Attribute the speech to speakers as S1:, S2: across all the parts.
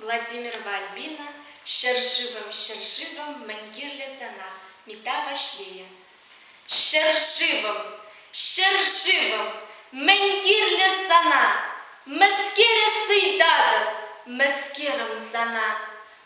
S1: Владимир Вальбина ҫӗршывӑм, ҫӗршывӑм, мӗн кирлӗ сана, мета Ваҫлейӗ. Ҫӗршывӑм, ҫӗршывӑм, мӗн кирлӗ сана, мӗскере сыйтатӑп, мӗскерӗм сана,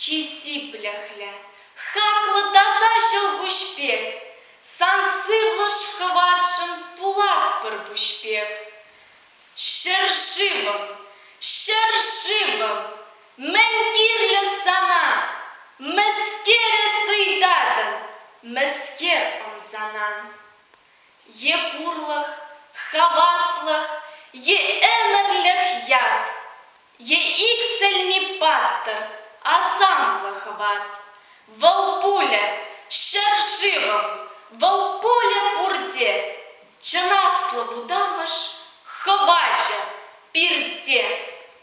S1: Чи сиплӗхлӗ, хаклӑ таса ҫӑлкуҫ пек, сан сывлӑш-хӑватшӑн пулатпӑр пуҫпех. Ҫӗршывӑм, ҫӗршывӑм, мӗн кирлӗ сана? Мӗскере сӑйтатӑн, мӗскер ӑмсанан? е пурлӑх, хаваслӑх, е ӗмӗрлӗх ят, е иксӗлми паттӑр, асамлӑ хӑват. Вӑл пулӗ ҫӗршывӑм, вӑл пулӗ пурте, чӑн аслӑ вутамӑш, хӑвачӗ, пирте.